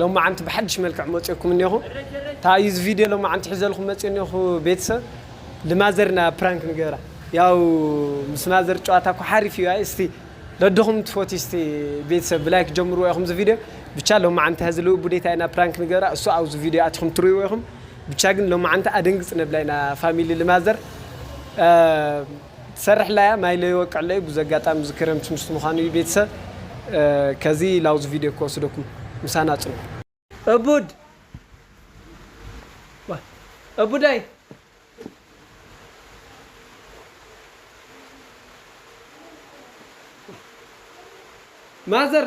ሎማዓንቲ ብሓድሽ መልክዕ መፅኦኩም እኔኹ ታይ እዩ ዝቪድዮ ሎማዓንቲ ሒዘልኹም መፅእ እኔኹ ቤተሰብ ልማዘር እና ፕራንክ ንገብራ ያው ምስ ማዘር ጨዋታ እኮ ሓሪፍ እዩ ኣይ እስቲ ለድኹም ትፎቲ እስቲ ቤተሰብ ብላይክ ጀምርዎ ኢኹም ዝቪድዮ ብቻ ሎማዓንቲ ሀዚ ልኡ ቡዴታይ እና ፕራንክ ንገብራ እሱ ኣብዚ ቪድዮ ኣቲኹም ትሪእዎ ኢኹም ብቻ ግን ሎማዓንቲ ኣደንግፅ ነብላ ኢና ፋሚሊ ልማዘር ትሰርሕላያ ማይ ለይወቅዕለይ ቡዚ ኣጋጣሚ እዚ ክረምቲ ምስቲ ምዃኑ እዩ ቤተሰብ ከዚ ላውዚ ቪድዮ ክወስደኩም ምሳና ፅንሑ። እቡድ ዋይ እቡደይ። ማዘር።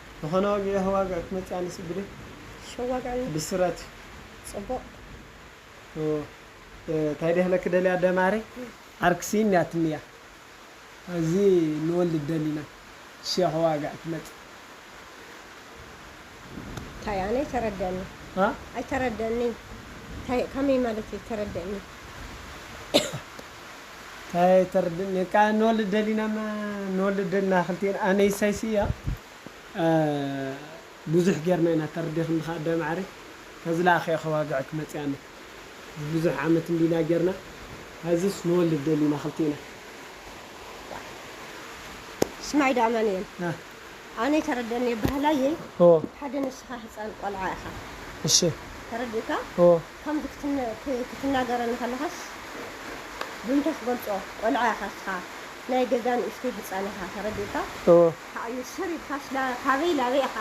ዝኾነ ዋግዒ ከዋግዕ ክመጽእ ኣነ ስግደይ ሸው ዋግዕኒ ብስራት ጽቡቅ እዩ ታይ ደህለኪ ደልያ ኣደ ማረይ ዓርኪ ሲኢን ያትኒ እያ ኣዚ ንወልድ ደሊና ሸ ከዋግዕ ትመጽእ ታይ ኣነ ኣይተረደኣኒ ኣ ኣይተረደኣኒ ታይ ካመይ ማለት እዩ ተረደእኒ። ታይ ኣይተርድእን እካ ንወልድ ደሊና እማ ንወልድ ደሊና ክልቴና ኣነ ኢሳይስ እያ ቡዙሕ ጌርና ኢና ተርዲክኒ ከኣ ኣደ ማዕሪ ከዚ ለኣከ እየ ከዋግዐኪ መፅኣ ኣነ ቡዙሕ ዓመት እንዲ ኢና ጌርና ሀዝስ ንወልድ ደሊና ክልቴና። ስማዒ ዶ ኣማኒኤል ኣነ ኣይተረደእን እየ በሃላይ እየ ሓደ ንስካ ህፃን ቆልዓ ኢካ እሺ ተረዲእካ። ከምዚ ክትናገረኒ ከለኻስ ብምንታይ ክገልጾ ቆልዓ ኢኻ እስኻ ናይ ገዛ ንእሽተይ ህጻን ኢኻ ተረዲኡካ እወ። ኣዩ ስር ኢልካስ ካበይ ላበይ ኢኻ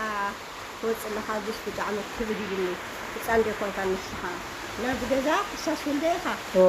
ትወጽእ ኣለኻ እዚስ ብጣዕሚ ክብድ ኢሉኒ ህጻን ዶ ኣይኮንካን ንስኻ ናብዚ ገዛ ሕሳስ ውልደይ ኢኻ እወ።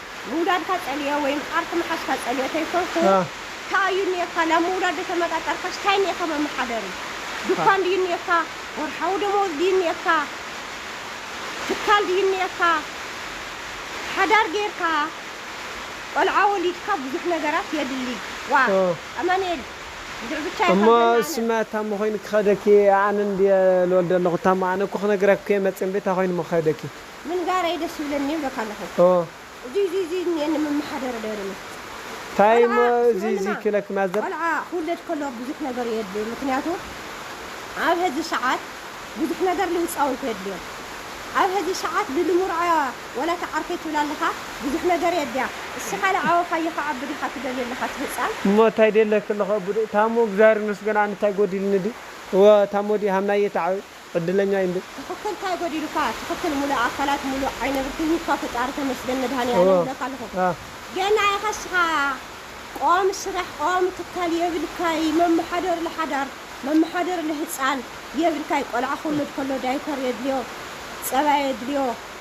ምውላድካ ጸልዮ ወይም ዓርኪ ምሓዝካ ጸልዮ ተይኮንኩ ኣህ። ካኣ እዩ ኔርካ ናብ ምውላድ ደተመጣጠርካስ ታይ ኔካ መመሓደሪ ዱኳን ድዩ ኔርካ ወርሓዊ ደመወዝ ድዩ ኔርካ ትካል ድዩ ኔርካ ሓዳር ጌርካ ቆልዓ ወሊድካ ብዙሕ ነገራት የድሊ ዋእ ኦህ። ኣማኒኤል ብዙሕ ብቻ ኢካ እሞ ዝደሊ ኣነ። እሱማ እታሞ ኮይኑ ክከደኪ ኣነ እንድየ ልወልድ ኣለኩ እታሞ ኣነ እኮ ክነግረኪ እየ መፅየ እምበይ እታይ ኮይኑ እሞ ክከደኪ ምንጋረይ ደስ ይብለኒ ይብለካ ኣለኹ እዙይ እዙይ እዙይ እኒኤኒ ምመሓደረ ዶ የብለኒ ታይ እሞ እዙይ እዙይ ክብለኪ ማዘር ቆልዓ ክውለድ ከሎ ብዙሕ ነገር እዩ የድልዩ ምክንያቱ ኣብ ሀዚ ሰዓት ብዙሕ ነገር ልህፃውንቲ የድልዮም ኣብ ሀዚ ሰዓት ልልሙርዓያ ዋላ እታ ዓርከይ ትብላ ኣለኻ ብዙሕ ነገር የድልያ እስኻ ልዓበኻዮ ክዓቢ ዲኻ ትደልዮ ኣለኻ እቲ ህፃን። እሞ እታይ ደለኪ ኣለኹ ኣቡደይ። ታሙ እግዚኣብሔር ይመስገን ኣነ እታይ ጎዲልኒ ድዩ እወ ታሞ ድዩ ሃምናዬ ተዓበይ። ዕድለኛ ኢንዶ። ትክክል ታይ ጎዲሉካ ትክክል ሙሉእ ኣካላት ሙሉእ ዓይነ ብርትን ሂብካ ፈጣሪ ተመስገን መድሃኒኣለም ይብለካ ኣለኩ ገና ኢካ እስካ ቆም ስራሕ ቆም ትካል የብልካይ መመሓደሪ ለሓዳር መመሓደሪ ለህፃን የብልካይ ቆልዓ ክውለድ ከሎ ዳይፐር የድልዮ ፀባ የድልዮ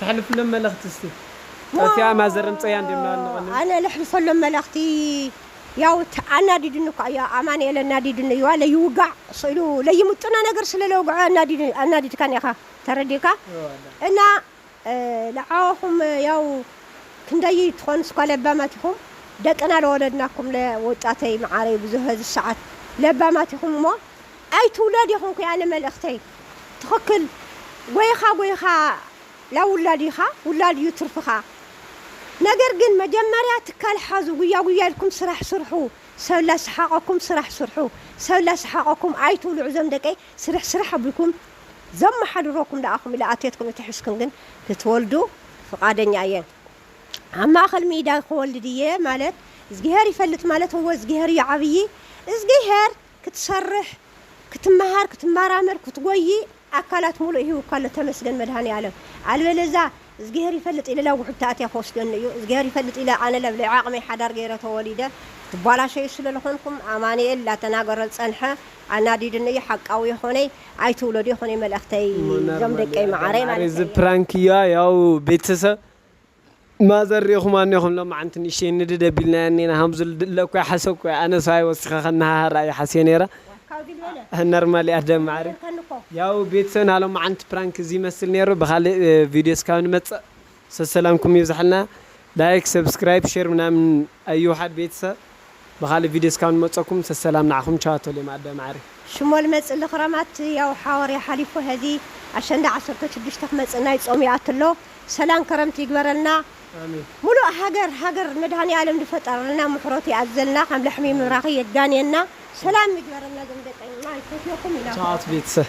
ተሕልፍሎም መልእኽቲ እስቲ ጠፊኣ ማዘር እምፀያ እንድዮም ናበልና ዋው ቀኒዮም። ኣነ ለሕልፈሎም መልእኽቲ ያው ኣናዲዱኒ እኳ እዩ ኣማኒኤል ኣናዲዱኒ እዩ ዋለ ይውጋዕ ስእሉ ለይምጡና ነገር ስለ ለውግዖ ኣናዲዱኒ ኣናዲድካኒ ኢኻ ተረዲእካ እና ለዓኹም ያው ክንደይ ትኾኑስ እኳ ለባማት ኢኹም ደቅና ለወለድናኩም ለወጣተይ መዓረይ ብዙሀ ዝሰዓት ለባማት ኢኹም እሞ ኣይትውለድ ይኹንኩ ኣነ መልእኽተይ። ትኽክል ጎይኻ ጎይኻ ላውላድ ኢኻ ውላድ እዩ ትርፍኻ ነገር ግን መጀመርያ ትካል ሓዙ ጉያ ጉያ ኢልኩም ስራሕ ስርሑ ሰብ ላስሓቀኩም ስራሕ ስርሑ ሰብ ላስሓቀኩም ኣይትውልዑ ዞም ደቀይ ስርሕ ስራሕ ኣቢልኩም ዘማሓድረኩም ላኣኹም ኢለ ኣትየትኩም እተሒዝኩም ግን ክትወልዱ ፍቃደኛ እየ ኣብ ማእኸል ሚዳ ክወልድ እየ ማለት እዝጊሄር ይፈልጥ ማለት እወ እዝጊሄር እዩ ዓብዪ እዝጊሄር ክትሰርሕ ክትመሃር ክትማራመር ክትጎዪ ኣካላት ሙሉእ ሂቡካ ኣሎ ተመስገን መድሃኒኣለም ኣልበለዛ እዝግሄር ይፈልጥ ኢለ ላብ ውሕጅቲ ኣትየ ክወስደኒ እዩ እዝግሄር ይፈልጥ ኢለ ኣነ ላብ ለይዓቅመይ ሓዳር ገይረ ተወሊደ ትባላሸዩ ስለ ልኮንኩም ኣማኒኤል ላተናገረ ልፀንሐ ኣናዲዱኒ እዩ ሓቃዊ የኮነይ ኣይትውለዱ የኮነይ መልእክተይ ዞም ደቀይ ማዓረይ ማለተይ እየ። እዚ ፕራንክ እያ ያው ቤተሰብ ማዘር ሪኢኹማ እኔኹም ሎማዓንቲ ንእሽተይ ንድድ ኣቢልናያ እኔና ሃምዙ ለኳ ሓሰብኩ ኣነስ ሃይ ወሲኻ ከነሃሃር ኣዩ ሓስየ ነይረ ነርማል እያ ደም ማዓረይ ያው ቤተሰብና ሎማዓንቲ ፕራንክ እዚ ይመስል ነይሩ ብኻሊእ ቪድዮ እስካብ ንመፅእ ሰሰላምኩም ይብዛሓልና ላይክ ሰብስክራይብ ሼር ምናምን ኣይውሓድ ቤተሰብ ብካልእ ቪድዮ እስካብ ንመፀኩም ሰሰላም ንዓኩም ቻው ተልየ ማኣዳ ማዓረይ። ሽሞል መጽሊ ክረማት ያው ሓወርያ ሓሊፉ ሀዚ ኣሸንዳ ዓሰርተ ሽዱሽተ ክመጽእ ናይ ጾም ይኣቲ ኣሎ ሰላም ከረምቲ ይግበረልና ሙሉእ ሃገር ሃገር መድሃኒኣለም ድፈጠረልና ምሕረቱ ይኣዝዘልና ከም ላሕሚ ምብራኪ የዳንየና ሰላም ይግበረልና ዞም ደቀይ ማይ ሰትዮኩም ኢና ተኣቱ ቤተሰብ።